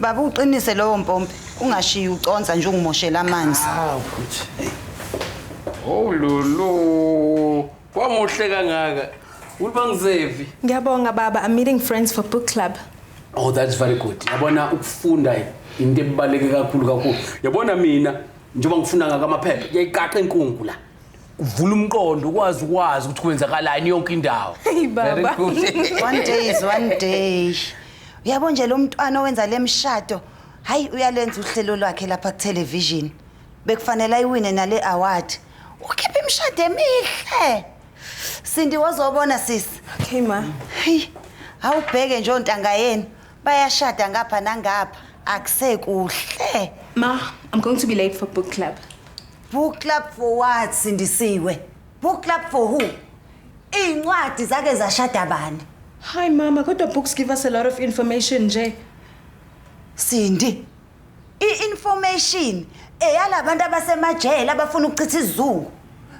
Baba uqinise lowo mpompi ungashiyi uconsa nje ungimoshela amanzi. Hawu futhi. Oh lulu. Kwamuhle kangaka. Uliba ngizevi. Ngiyabonga baba, I'm meeting friends for book club. Oh, that's very good. Yabona ukufunda into ebaleke kakhulu kakhulu. Yabona mina njengoba ngifuna ngaka amaphepha, kuyayiqaqa inkungu la. Uvula umqondo ukwazi ukwazi ukuthi kwenzakalani yonke indawo. Hey baba. one day is one day. Uyabo nje lo mntwana owenza lemshado, hayi uyalenza uhlelo lwakhe lapha ku television. Bekufanele ayiwine nale award. Ukhipha imishado emihle. Sindi wazobona sisi. Okay ma. Hey, awubheke nje ontanga yenu. Bayashada ngapha nangapha. Akusekuhle. Ma, I'm going to be late for book club. Book club for what Sindisiwe? Book club for who? Izincwadi zake zashada bani? Hi mama, kodwa books give us a lot of information nje. Sindi, I-information eyalabantu abasemajele abafuna ukuchitha izungu.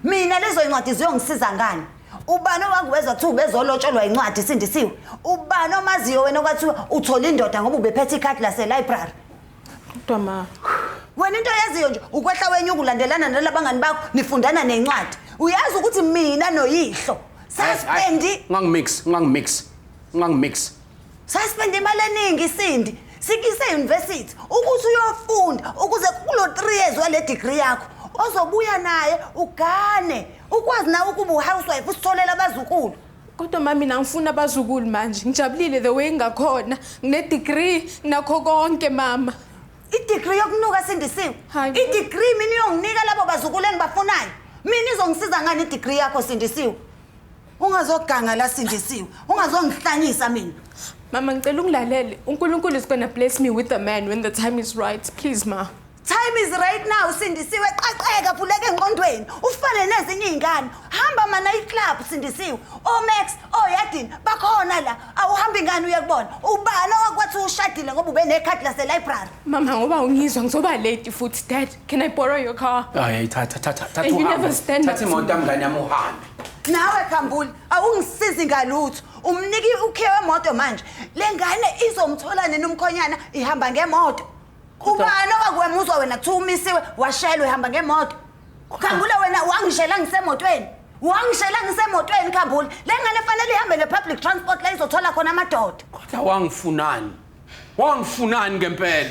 Mina lezo incwadi ziyongisiza ngani? Ubani owakuwezwa kuthiwa ubezolotsholwa incwadi isindisiwe? Ubani omaziyo wena okwathiwa uthola indoda ngoba ubephethe ikhadi lase-library? Kodwa ma. Wena into oyaziyo nje ukwehla wenyuka ulandelana nalabangani bakho nifundana nencwadi. Uyazi ukuthi mina noyihlo saspendi Ungangimix, ungangimix, ungangimix. Saspende imali eningi Sindi. Sikise university ukuthi uyofunda ukuze kulo 3 years wale degree yakho ozobuya naye ugane ukwazi nawe ukuba uhousewife usitholela abazukulu. Kodwa mama mina ngifuna abazukulu manje. Ngijabulile the way ngakhona. Ngine degree nakho konke mama. I-degree yokunuka sindisiwe Hayi. i-degree mina iyonginika labo bazukulu engibafunayo mina izongisiza ngani i-degree yakho sindisiwe ungazoganga la sindisiwe ungazongihlanyisa mina mama ngicela ungilalele unkulunkulu is gonna bless me with a man when the time is right please ma time is right now sindisiwe qaqeka vuleke enqondweni ufane nezinye iy'ngane hamba mana iclub sindisiwe omax oyadini bakhona la awuhambi ngani uye kubona ubani owakwathi ushadile ngoba ubenekhadi laselibrary mama ngoba ungizwa ngizoba late futhi dad Can I borrow your car? Hayi thatha thatha thatha You uhambe. never stand up Thatha to imoto mngane yami uhambe. nawe khambuli awungisizi ngalutho umniki ukhiye wemoto manje le ngane izomthola nini umkhonyana ihamba ngemoto ubani owakwemuzwa wena kuthiwa umisiwe washelwe ihamba ngemoto khambula wena wangishela ngisemotweni wangishela ngisemotweni khambula le ngane fanele ihambe nge-public transport la izothola khona amadoda Kodwa wangifunani? Wangifunani ngempela?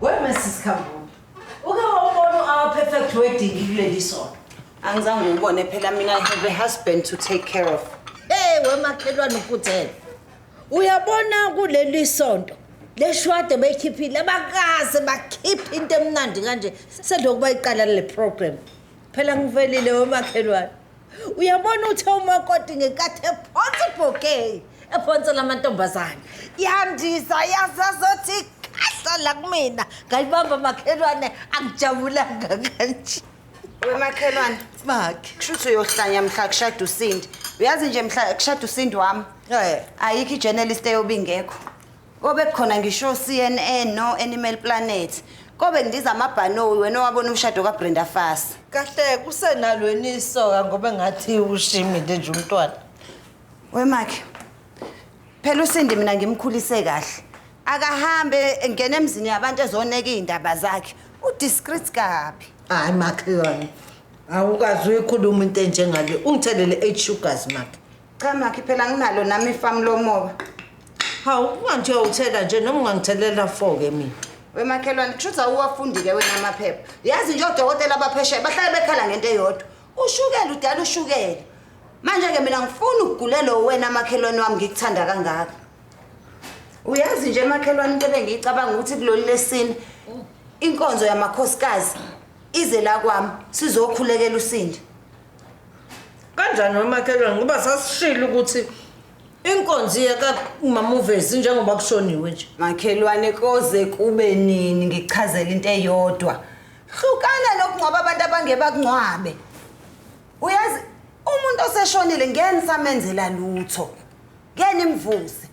Wema sisikhambule. Uke wawubona u-our perfect wedding kuleli sonto. Angizange ngibone phela mina I have a husband to take care of. Hey wemakhelwane uputhele. Uyabona kuleli sonto leshwade bekhiphile abakaze bakhipha into emnandi kanje selokuba iqala le program. phela ngivelile womakhelwane uyabona uthe umakoti ngenkathi ephonsa ibhokey ephonsa lamantombazane yandisa yasazothi kahla la kumina ngayibamba makhelwane angijabulanga kanje wemakhelwane bakhe kushuthi uyohlanya mhla kushada usindi uyazi nje mhla kushada usindi wami ayikho ijournalist eyobe ingekho Kobe khona ngisho CNN no Animal Planet. Kobe ngidiza amabhanoyi wena owabona umshado kaBrenda Fasi. Kahle kusenalweni isoka ngoba ngathi ushimile nje umntwana. Wemakhe. Phela usindi mina ngimkhulise kahle. Akahambe engena emzini yabantu ezoneka izindaba zakhe. Udiscreet kabi. Hayi makhelwane. Awukazi uyikhuluma into enjengale. Ungithelele 8 sugars makhe. Cha makhi phela nginalo nami ifamu lomoba. Hawu ungathi uyawuthela nje noma ungangithelela four ke mina. Wemakhelwane kushuthi awuwafundile wena amaphepha. Yazi nje odokotela abaphesheya bahlale bekhala ngento eyodwa. Ushukela udala ushukela. Manje ke mina ngifuna ukugulelwa wena makhelwane wami ngikuthanda kangaka. Uyazi nje makhelwane into ebengiyicabanga ukuthi kulolu lesini inkonzo yamakhosikazi ize la kwami sizokhulekela usindi. Kanjani wemakhelwane ngoba sasishilo ukuthi inkonzi yakamamuvezi njengoba kushoniwe nje. Makhelwane koze kube nini ngichazela into eyodwa. Hlukana nokungcwaba abantu abangebakungcwabe. Uyazi umuntu oseshonile ngeke nisamenzela lutho. Ngeke nimvuse.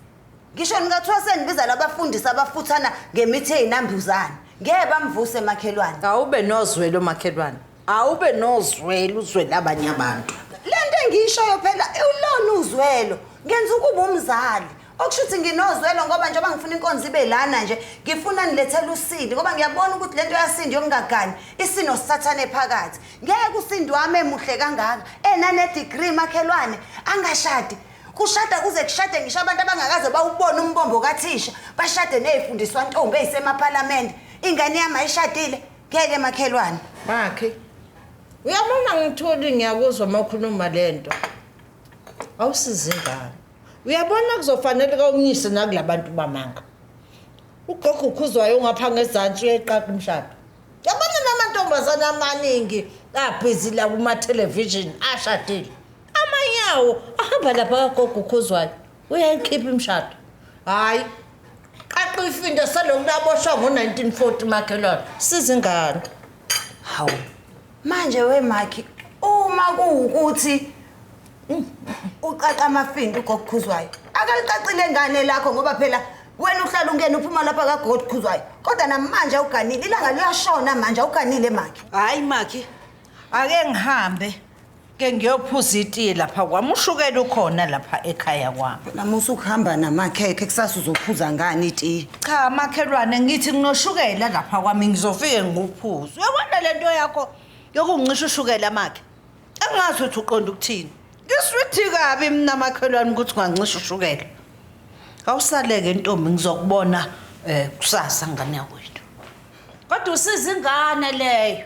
Ngisho nikathiwa senibiza labafundisi abafuthana ngemithi eyinambuzane. Ngeke bamvuse makhelwane. Awube nozwelo makhelwane. Awube nozwelo uzwele abanye abantu. Lento engiyishoyo phela ulona uzwelo. Ngenza ukuba umzali. Okusho ukuthi nginozwelo ngoba njengoba ngifuna inkonzo ibe lana nje, ngifuna nilethele usindi ngoba ngiyabona ukuthi lento yasindi yokungagani isino sathane phakathi. Ngeke usindi wami emuhle kangaka enane degree makhelwane angashadi Kushada kuze kushade ngisho abantu abangakaze bawubone umbombo kathisha bashade nezifundiswa ntombi ezisemaphalamende. Ingane yami ayishadile ngeke makhelwane. Bakhe. Uyabona ngithuli ngiyakuzwa makhuluma lento. Awusizi ingane. Uyabona kuzofanele kawumnyise nakulabantu bamanga. Ugogo ukhuzwayo ungapha ngezantsi uyayiqaqa umshado. Yabona namantombazana amaningi abhizi la kuma television ashadile. Amanyawo ahamba lapha kagogo ukhuzwayo. Uyayikhipha imshado. Hayi. Qaqa ifinda selokhu laboshwa ngo-1940 makhelwane. Sizingane. Hawu. Manje we Makhi uma kuwukuthi mm, uqaqa amafinda ugokukhuzwayo. Akalicacile ngane lakho ngoba phela wena uhlala ungena uphuma lapha kagokukhuzwayo. Kodwa namanje awuganile ilanga liyashona manje awuganile Makhi. Hayi Makhi. Ake ngihambe. ke ngiyophuza itiye lapha kwami ushukela ukhona lapha ekhaya kwami namusa ukuhamba namakhekhe kusasa uzophuza ngani itiye cha makhelwane ngithi nginoshukela lapha kwami ngizofike ngikuphuza uyabona le nto yakho yokungisho ushukela makhe angazi ukuthi uqonda ukuthini ngiswithi kabi mina makhelwane ukuthi ungancisha ushukela awusaleke ntombi ngizokubona um kusasa ngane yakwethu kodwa usiza ingane leyo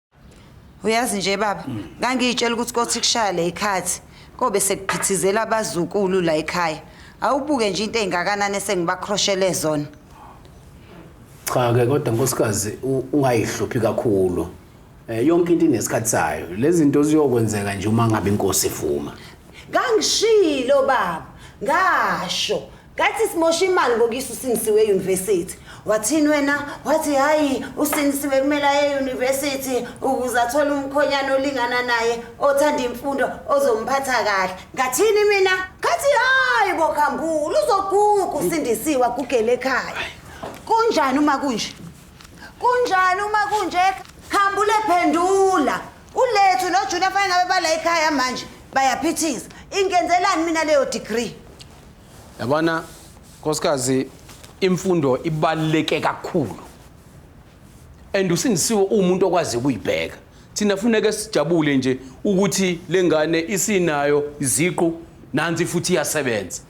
uyazi nje baba ngangiyitshela ukuthi kothi kushaya le ikhathi kobe sekuphithizela abazukulu la ekhaya awubuke nje into engakanani esengibakroshele zona cha ke kodwa nkosikazi u- ungayihluphi kakhulu Eh, yonke into inesikhathi sayo lezi zinto ziyokwenzeka nje uma ngabe inkosi ivuma ngangishilo baba ngasho Kathi simosha imali ngokuyisa uSindisiwe e-university. Wathini wena? Wathi hayi uSindisiwe kumele aye e-university ukuze athole umkhonyana olingana naye othanda imfundo ozomphatha kahle. Ngathini mina? Kathi hayi bokhambula uzoguga uSindisiwe agugele ekhaya. Kunjani uma kunje? Kunjani uma kunje? Khambule phendula. Ulethu noJunior fanele ngabe bala ekhaya manje bayaphithiza. Ingenzelani mina leyo degree? yabona nkosikazi imfundo ibaluleke kakhulu and usindisiwe uwumuntu okwazi ukuyibheka thina funeke sijabule nje ukuthi le ngane isinayo iziqu nansi futhi iyasebenza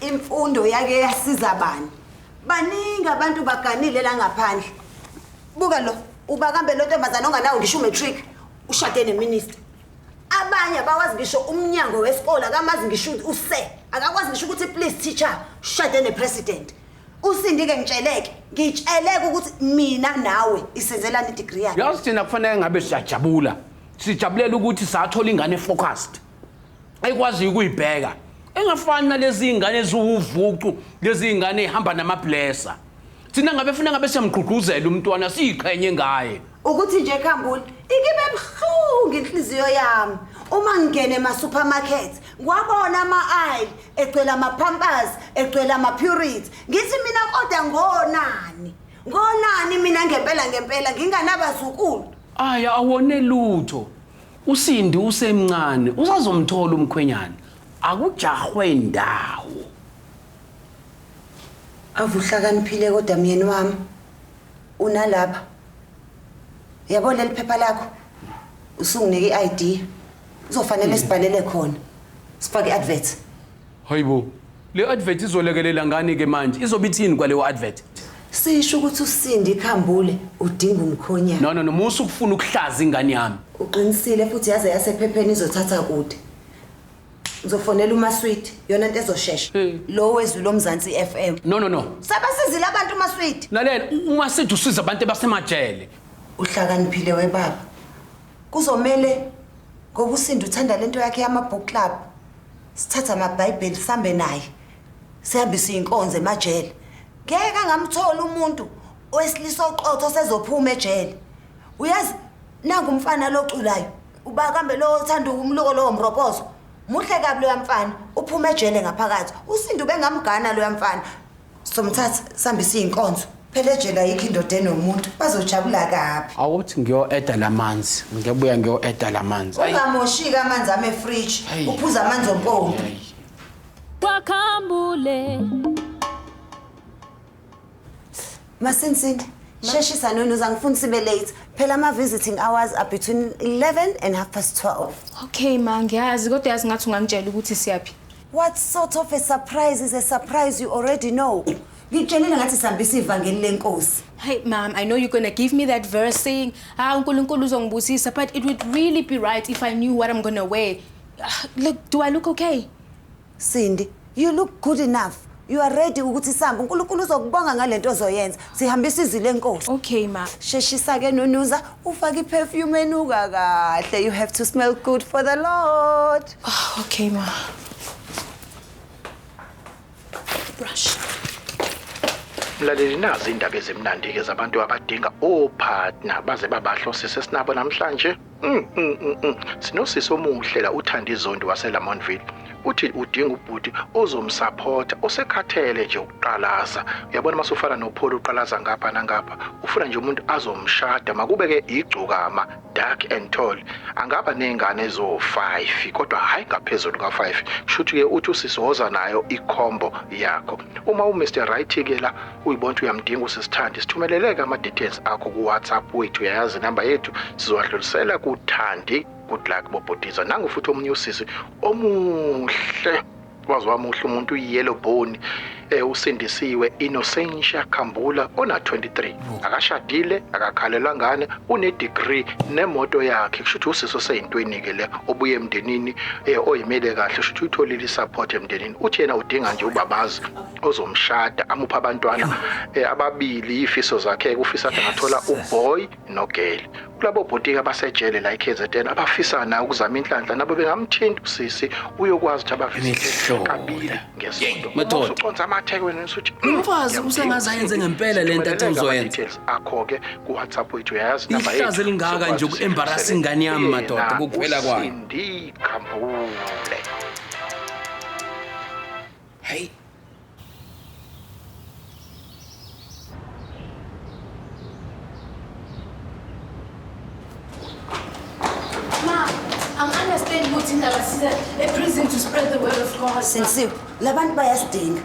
imfundo yake yasiza bani baningi abantu baganile la ngaphandle buka lo uba kambe lo ntombazane onganawo ngisho umatric ushade neminister abanye abawazi ngisho umnyango wesikole akamazi ngisho ukuthi use akakwazi ngisho ukuthi please teacher shade nepresident usindike ngitsheleke ngitsheleke ukuthi mina nawe isenzelani idegree yakhe yazi thina kufanele ngabe siyajabula sijabulela ukuthi sathola ingane focused ayikwaziyo ukuyibheka engafani nalezi zingane eziwuvucu lezi zingane ehamba namablesa thina ngabe funa ngabe siyamgqugquzela umntwana siyiqhenye ngaye ukuthi nje khambula ikibe buhlungu inhliziyo yami uma ngingene ema-supermarket ngiwabona ama-aile egcwele ama-pampers egcwele ama-purity ngithi mina kodwa ngonani ngonani mina ngempela ngempela nginganabazukulu ayi awone lutho usindi usemncane usazomthola umkhwenyana akujahwe ndawo avuhlakaniphile kodwa myeni wami Unalapha. Yabo leli phepha lakho. Usunginike i-ID. Kuzofanele sibhalele khona. Sifake i-advert. Hayibo. Le advert izolekelela ngani ke manje? Izobe ithini kwaleyo advert? Sisho ukuthi usindi ikhambule udinga umkhonyana. No no no, musa ukufuna ukuhlaza ingane yami. Uqinisile futhi yaze yasephepheni izothatha kude. ngizofonela umaswidi yona nto ezoshesha hmm. lo wezwi lomzansi f m no no no sebasizile abantu umaswidi lalela umaswidi usiza abantu ebasemajele uhlakaniphile webaba kuzomele ngoba usinda uthanda le nto yakhe yama-book club sithatha amabhayibheli sihambe naye sihambe siyinkonzo emajele ngeke angamthola umuntu owesilisa oqotho sezophuma ejele uyazi nangumfana loculayo uba kambe lowo othanda umluko lowo mropozo muhle kabi loya mfana uphuma ejele ngaphakathi usinda ubengamgana loya mfana somthatha sihambise iy'nkonzo phela ejele ayikho indoda enomuntu bazojabula kabi awuthi ngiyo-eda la manzi ngiyabuya ngiyo-eda la manzi Ayi, ungamoshiki amanzi ame efriji Hey. uphuza amanzi ompompi ayi. kwakhambule Masinsini, sheshisa noni uzangifuna sibe late. Phela ama visiting hours are between 11 and half past 12. Okay ma, ngiyazi kodwa yazi ngathi ungangitshela ukuthi siyaphi. What sort of a surprise is a surprise you already know? Ngitshelile ngathi sihambisa ivangeli lenkosi. Hey mom, I know you're going to give me that verse saying, "Ah uNkulunkulu uzongibusisa," but it would really be right if I knew what I'm going to wear. Ah, Look, do I look okay? Sindi, you look good enough. You are ready ukuthi sambe. UNkulunkulu uzokubonga ngalento ozoyenza. Sihambisa izwi lenkosi. Okay ma. Sheshisa ke nonuza ufake iperfume enuka kahle. You have to smell good for the Lord. Oh, okay ma. Brush. Mlaleli nazi indaba ezimnandi ke zabantu abadinga opartner baze babahlosise sinabo namhlanje. Mm, mm, mm, mm. Sinosisi omuhle la uthanda izondi waseLamontville. Uthi udinga ubhuti ozomsupport osekhathele nje ukuqalaza. Uyabona masufana noPaul uqalaza ngapha nangapha. Ufuna nje umuntu azomshada makube ke igcokama dark and tall. Angaba nezingane ezo 5 kodwa hayi ngaphezulu ka 5. Shuthi ke uthi usisi woza nayo icombo yakho. Uma u Mr Right ke la uyibona ukuthi uyamdinga usisithandi sithumeleleke ama-details akho ku-whatsapp wethu uyayazi inamba yethu sizowadlulisela kuthandi good luck bobhutiza nangu futhi omunye usisi omuhle waze wamuhle umuntu uyiyellow bone eh usindisiwe Innocentia Khambula ona 23 akashadile akakhalelwa ngane une degree nemoto yakhe kusho ukuthi usiso seyintweni ke le obuye emndenini eh oyimele kahle kusho ukuthi utholile support emndenini uthi yena udinga nje ubabazi ozomshada amupha abantwana eh, ababili ifiso zakhe kufisa ukuthi angathola uboy nogirl kulabo bhotiki abasejele la eKZN abafisa na ukuzama inhlanhla nabo bengamthinta usisi uyokwazi ukuthi abavise kabili ngesonto method uconsa amatheke wena usuthi hmm, umfazi usengaze ayenze ngempela lento athi uzoyenza akho ke ku WhatsApp wethu uyazi namba yethu ihlaze lingaka nje ukuembarrassing ngani yami madoda kukuphela kwayo ndi khambule Hayi. Ma, I'm understanding ukuthi indaba size eprison to spread the word of God. Sensiwe, labantu bayasidinga.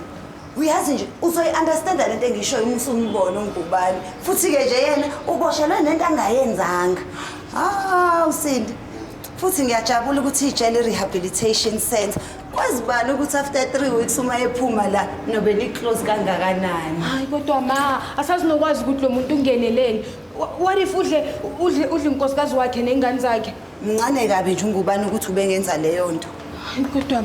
Uyazi nje uzoyi-understanda lento engishoyo uma usumbona ungubani. Futhi-ke nje yena uboshelwe nento angayenzanga. Ah, usindi. Futhi ngiyajabula ukuthi ijele rehabilitation center kwazi bani ukuthi after 3 weeks uma ephuma la nobe ni close kangakanani. Hayi kodwa ma asazinokwazi ukuthi lo muntu ungeneleni. Wha- What if udle udle udle inkosikazi wakhe nezingane zakhe? Mncane kabi nje ungubani ukuthi ubengenza leyo nto. Hayi kodwa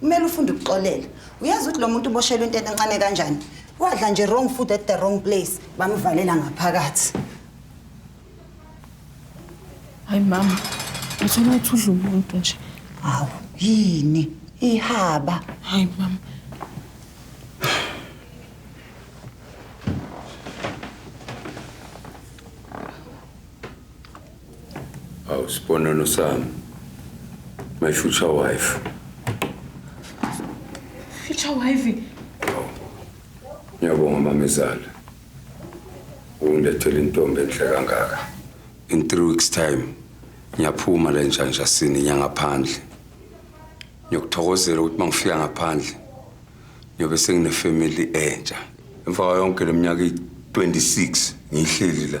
kumele ufunde ukuxolela uyazi ukuthi lo muntu uboshelwe into encane kanjani wadla nje wrong food at the wrong place bamvalela ngaphakathi hayi mama ngithole ukuthi udla umuntu nje hawu yini ihaba hayi mama Awu sibonelo sami. My future wife. Future wife. Ngiyabonga mamezala. Ungilethele intombi enhle kangaka. In 3 weeks time ngiyaphuma la entshanjasini nyangaphandle. Ngiyokuthokozela ukuthi mangifika ngaphandle ngiyobe sengine family entsha. Emva kwayo yonke leminyaka 26 ngihleli la.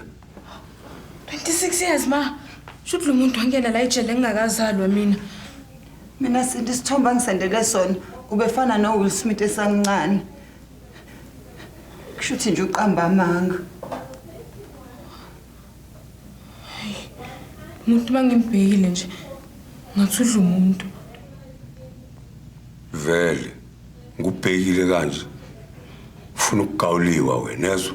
26 years ma shuthi lo muntu wangena la ejele ngingakazalwa mina mina sinti isithombe angisendele sona ubefana nowill smith esamncane kusho ukuthi nje uqamba amanga umuntu uma ngimbhekile nje ngathi udla umuntu vele ngubhekile kanje ufuna ukugawuliwa wena ezwa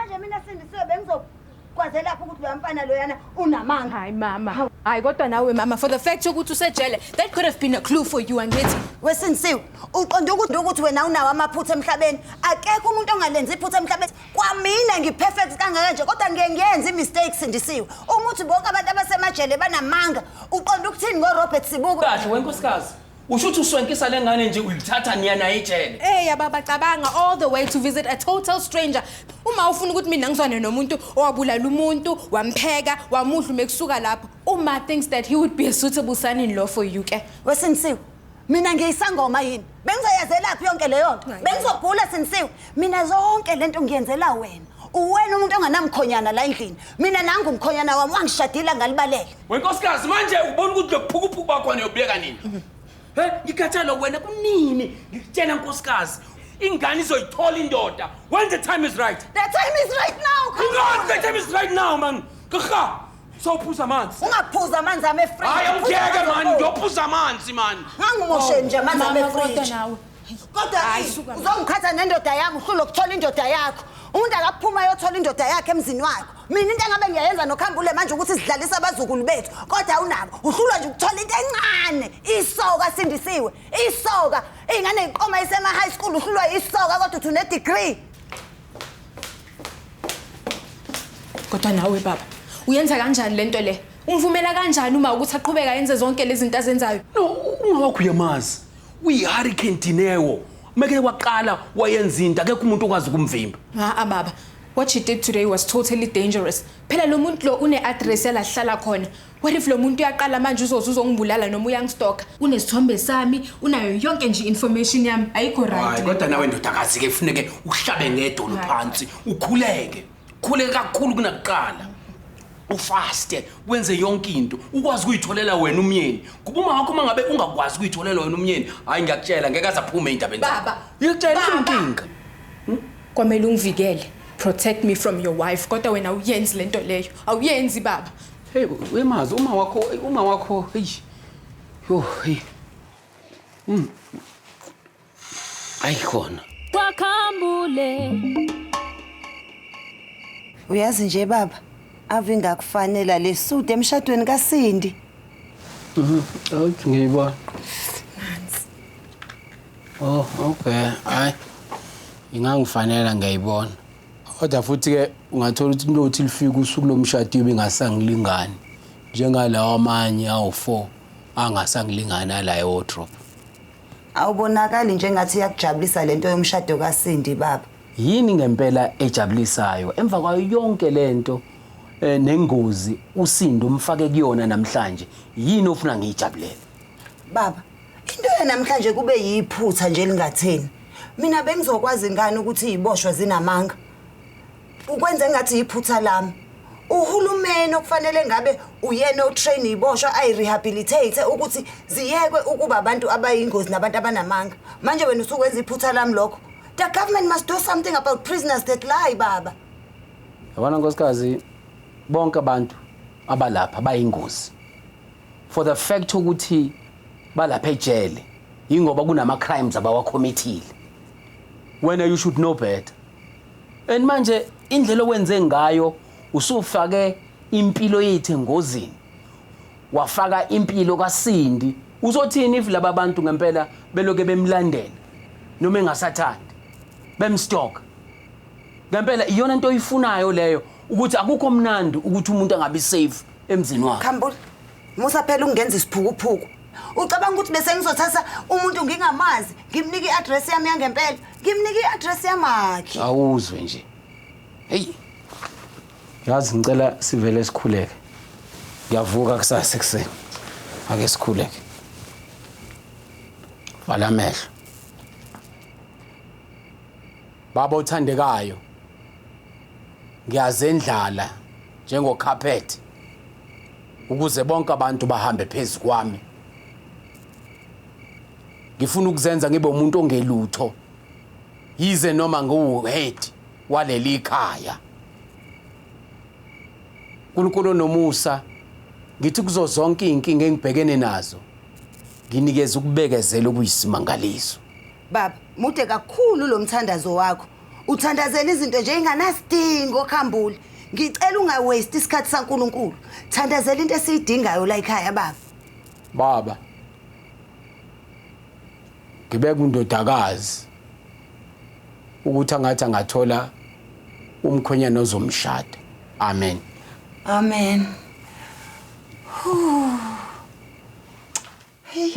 manje mina sindisiwe bengizokwaze lapho ukuthi loya mfana loyana unamanga hayi mama hayi kodwa nawe mama for the fact yokuthi usejele that could have been a clue for you angithi wesindisiwe uqonda ukuthi ukuthi wena unawo amaphutha emhlabeni akekho umuntu ongalenza iphutha emhlabeni kwamina ngiperfect kangaka nje kodwa ngiye ngiyenza imistakes sindisiwe umuthi bonke abantu abasemajele banamanga uqonda ukuthini ngorobert sibuko kahle wenkosikazi Usho ukuthi uswenkisa lengane nje uyithatha niya naye ejele. Eh yababa cabanga all the way to visit a total stranger. Uma ufuna ukuthi mina ngizwane nomuntu owabulala umuntu, wampheka, wamudla mekusuka lapho. Uma thinks that he would be a suitable son in law for you ke. Wesinsiwe. Mina ngiyisangoma yini? Bengizoyazelaphi yonke leyo nto? Hayi. Bengizogula sinsiwe. Mina zonke lento ngiyenzela wena. Uwena umuntu onganamkhonyana la endlini. Mina nangu umkhonyana wami wangishadila ngalibalele. Wenkosikazi manje ubona ukuthi lokuphukuphuku bakho niyobeka nini? He, ngikhathalo wena kunini? Ngikutshela nkosikazi, ingane izoyithola indoda. When the time is right. The time is right now. Ingane the time is right now man. Kha. Sawuphuza amanzi. Ungaphuza amanzi ame free. Hayi awungeke man, ngiyophuza amanzi man. Ngangimoshe nje amanzi ame free. kodwa Hayi, yini? suka la. uzongiqhatha nendoda yami uhlule ukuthola indoda yakho umuntu akaphuma ayothola indoda yakhe emzini wakho mina into engabe ngiyayenza nokhambule manje ukuthi sidlalise abazukulu bethu kodwa awunabo uhlulwa nje ukuthola into encane isoka sindisiwe isoka iy'ngane yiqoma isema-high school uhlulwa yisoka kodwa uthi unedegree kodwa nawe baba uyenza kanjani le nto le umvumela kanjani uma ukuthi aqhubeka yenze zonke lezi zinto azenzayo No, uma wakho uyamazi. uyihurricane dineo meke waqala wayenza into akekho umuntu okwazi ukumvimba ha baba what she did today was totally dangerous phela lo muntu lo une-address yalahlala khona what if lo muntu uyaqala manje uzoze uzongibulala noma uyangistoka unesithombe sami unayo yonke nje information yami ayikho right kodwa nawe ndodakazi-ke kufuneke uhlabe ngedolo phansi ukhuleke khule kakhulu kunakuqala ufaste wenze yonke into ukwazi ukuyitholela wena umyeni kuba uma wakho uma ngabe ungakwazi ukuyitholela wena umyeni hhayi ngiyakutshela ngeke aze aphume ey'ndabeni baba ngiyakutshela inkinga hmm? kwamele ungivikele protect me from your wife kodwa wena awuyenzi le nto leyo awuyenzi baba hey wemazi uma wakho uma wakho eyi yo hey mm. ayikhona kwakhambule uyazi nje baba ave ingakufanela le suit emshadweni kasindi awuthi ngiyibona oh okay hayi ingangifanela ngiyayibona kodwa futhi-ke ungathola ukuthi intothi lifika usuku lomshado ibe ingasangilingani njengalawa amanye awu-four angasangilingani alayo wodrop Awubonakali njengathi yakujabulisa lento yomshado kaSindi baba. Yini ngempela ejabulisayo emva kwayo yonke lento eh, nengozi uSindi umfake kuyona namhlanje yini ofuna ngiyijabulele? Baba, into yanamhlanje kube yiphutha nje lingatheni. Mina bengizokwazi ngani ukuthi iziboshwa zinamanga? ukwenze ngathi yiphutha lami uhulumeni okufanele ngabe uyena otrain iboshwa ayirehabilitate ukuthi ziyekwe ukuba abantu abayingozi nabantu abanamanga manje wena usukwenza iphutha lami lokho the government must do something about prisoners that lie baba yabona nkosikazi bonke abantu abalapha bayingozi for the fact ukuthi balapha ejele yingoba kunama crimes abawakhomithile wena you should know better and manje indlela owenze ngayo usufake impilo yethu engozini wafaka impilo kaSindi uzothini if laba bantu ngempela beloke bemlandela noma engasathandi bemstock ngempela iyona into oyifunayo leyo ukuthi akukho mnandi ukuthi umuntu angabi safe emzini wakhe khambula Musa phela ungenza isiphukuphuku. Ucabanga ukuthi bese ngizothatha umuntu ngingamazi, ngimnika i-address yami yangempela, ngimnika i-address yamakhe. Awuzwe nje. Hey. Yazi ngicela sivele sikhuleke. Ngiyavuka kusasa ekuseni. Ake sikhuleke. Vala amehlo. Baba othandekayo. Ngiyazendlala njengokhaphethe. ukuze bonke abantu bahambe phezu kwami ngifuna ukuzenza ngibe umuntu ongelutho yize noma ngiwuhead waleli khaya uNkulunkulu nomusa ngithi kuzo zonke izinkinga engibhekene nazo nginikeza ukubekezela okuyisimangaliso Baba, mude kakhulu lo mthandazo wakho. Uthandazela izinto nje inganasidingo khambule. Ngicela ungawaste isikhathi saNkuluNkulu. Thandazela into esiyidingayo la ekhaya baba. Baba. Ngibeka undodakazi ukuthi angathi angathola umkhwenyana ozomshada. Amen. Amen. Huh.